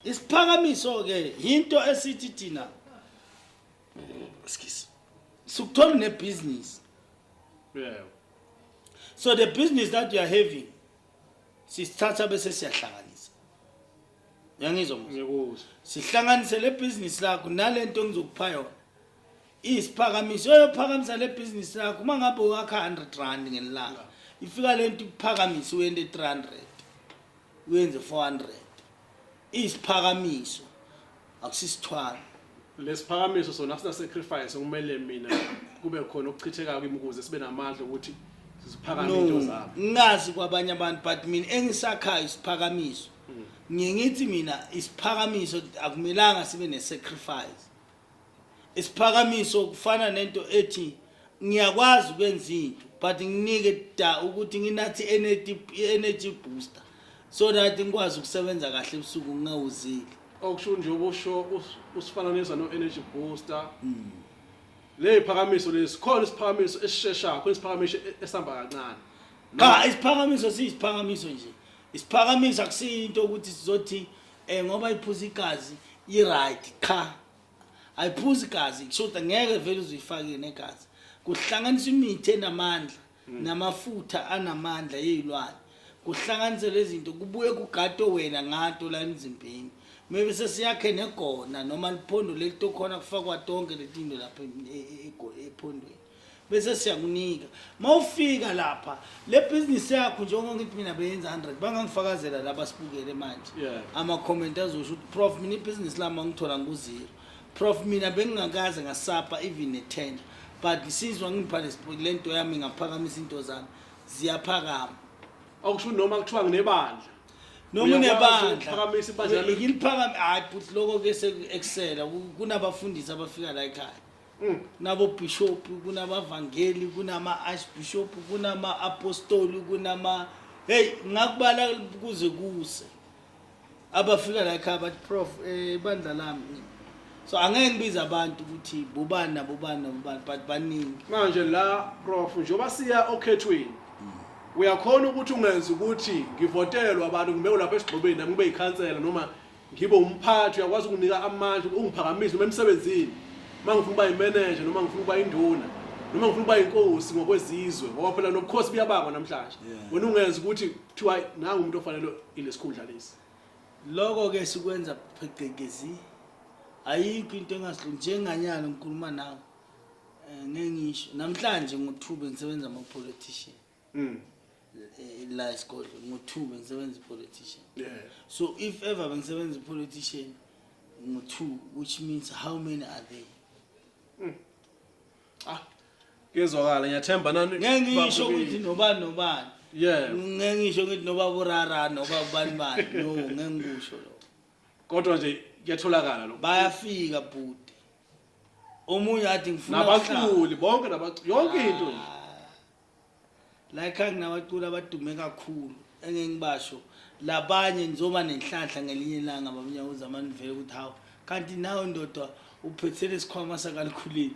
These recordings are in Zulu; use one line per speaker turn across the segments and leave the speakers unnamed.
Isiphakamiso ke into esithi thina skis sukuthola ne business. Yeah. So the business that you are having sisithatha bese siyahlanganisa. Yangizwa manje. Ngikuzwa. Sihlanganise
le
business lakho nalento engizokupha yona. Isiphakamiso uyophakamisa le business lakho uma ngabe wakha 100 rand ngelanga. Ifika lento iphakamisa uyende 300. uyenze 400 isiphakamiso akusisithwalo
lesiphakamiso sona sina sacrifice kumele mina kube khona okuchithekayo kimi ukuze sibe namandla ukuthi siziphakame into no zami ngazi kwabanye
abantu but mina engisakhayo isiphakamiso ngiye ngithi mina isiphakamiso akumelanga sibe ne-sacrifice isiphakamiso kufana nento ethi ngiyakwazi ukwenza into but nginike da ukuthi nginathi energy energy booster so that ngikwazi ukusebenza kahle ebusuku ngingawuzili okusho nje
ubusho usifananisa no energy booster mm. le iphakamiso lesi khona isiphakamiso esisheshayo khona isiphakamiso e-, esihamba kancane cha
isiphakamiso siyisiphakamiso nje isiphakamiso akusiyinto ukuthi sizothi eh ngoba iphuza igazi i right cha ayiphuzi igazi kushuthi ngeke vele uzuyifake negazi kuhlanganisa imithi enamandla hmm. namafutha anamandla yeyilwane kuhlanganisa lezinto kubuye kugato wena ngato la emzimbeni maybe sesiyakhe negona noma liphondo lelitokhona kufakwa tonke letinto lapha e, e, e, ephondweni bese siyakunika mawufika lapha le business yakho njengoba ngithi mina beyenza 100 bangangifakazela laba sibukele manje yeah. ama comment azosho ukuthi prof mina ibusiness lami angithola nguzero prof mina bengingakaze ngasapa even ne tender but ngisizwa ngipha lento yami ngaphakamisa into zami ziyaphakama okusho
noma kuthiwa nginebandla noma
unebandla
ngiliphakama hayi futhi
lokho ke sekusela kunabafundisi abafika la ekhaya Mm. kunabobishop kunabavangeli kunama-archbishop kunama-apostoli kunama heyi ngakubala kuze kuse abafika layikhaya bathi prof um eh, ibandla lami so angeke ngibize abantu ukuthi bobani nabobani nabobani but baningi manje la
prof njengoba siya okhethweni uyakhona ukuthi ungenza ukuthi ngivotelwe abantu ngibe ulapha esigxobeni nami ngibe yikhansela noma ngibe umphathi uyakwazi ukunika amandla ungiphakamisa noma emsebenzini uma ngifuna ukuba yimeneja noma ngifuna ukuba induna noma ngifuna ukuba yinkosi ngokwezizwe ngoba phela nobukhosi buyabakwa namhlanje wena ungenza ukuthi kuthiwa nangu umuntu ofanele ilesikhundla lesi loko ke
sikwenza pheqekezi ayikho into engasilo njenganyalo ngikhuluma nawe eh, ngeke ngisho namhlanje ngothuba ngisebenza ama-politician Mm. Eh, la isigodlo ngo-two bengisebenza i-politician yeah. so if ever bengisebenza i-politician ngo-two which means how many are they mm. ah
kuyezwakala ngiyathemba nani ngeke ngisho ukuthi
nobani nobani yeah ngeke ngisho ukuthi noba burara noba ubani bani no ngeke ngikusho lo kodwa nje
kuyatholakala lo bayafika bhuti
omunye athi ngifuna nabaculi bonke
nabaculi yonke into nje ah.
la ekhaya nginabaculi abadume kakhulu engeke ngibasho labanye ngizoba nenhlanhla ngelinye ilanga babunyakuza amanivele ukuthi hawu kanti nawe ndoda uphethe lesikhwama sakalikhulile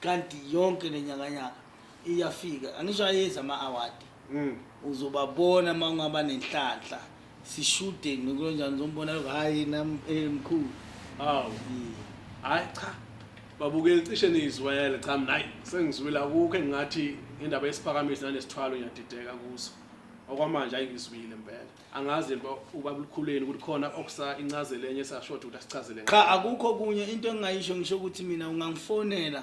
kanti yonke le nyakanyaka iyafika angisho ayezi ama-awadi mm. uzobabona uma ungaba nenhlanhla sishude nokulonjani zombona lokho hhayi nam eh, mkhulu hawu Eh,
hhayi cha babukeli cishe niyizwele cha mina hayi sengizwile akukho engingathi indaba yesiphakamisi nanesithwalo ngiyadideka kuso okwamanje hayi ngizwile mpela angazi yini uba- ubaba lukhuleni ukuthi khona okusa incazelo enye esashoda ukuthi asichazele ngayo. cha akukho kunye
into engingayisho ngisho ukuthi mina ungangifonela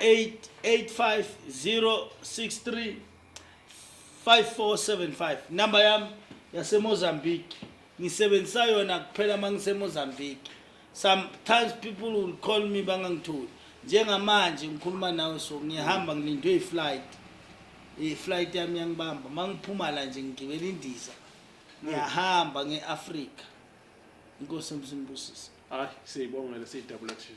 085063 5475 number yami yasemozambique ngisebenzisa yona kuphela uma ngisemozambique sometimes people will call me bangangitholi njengamanje ngikhuluma nawe so ngiyahamba ngilindwe i-flight i-flight yami yangibamba uma ngiphuma la nje ngigibela indiza
ngiyahamba
nge-afrika inkosi emsimbusise
hayi siyibongele siyidabula tv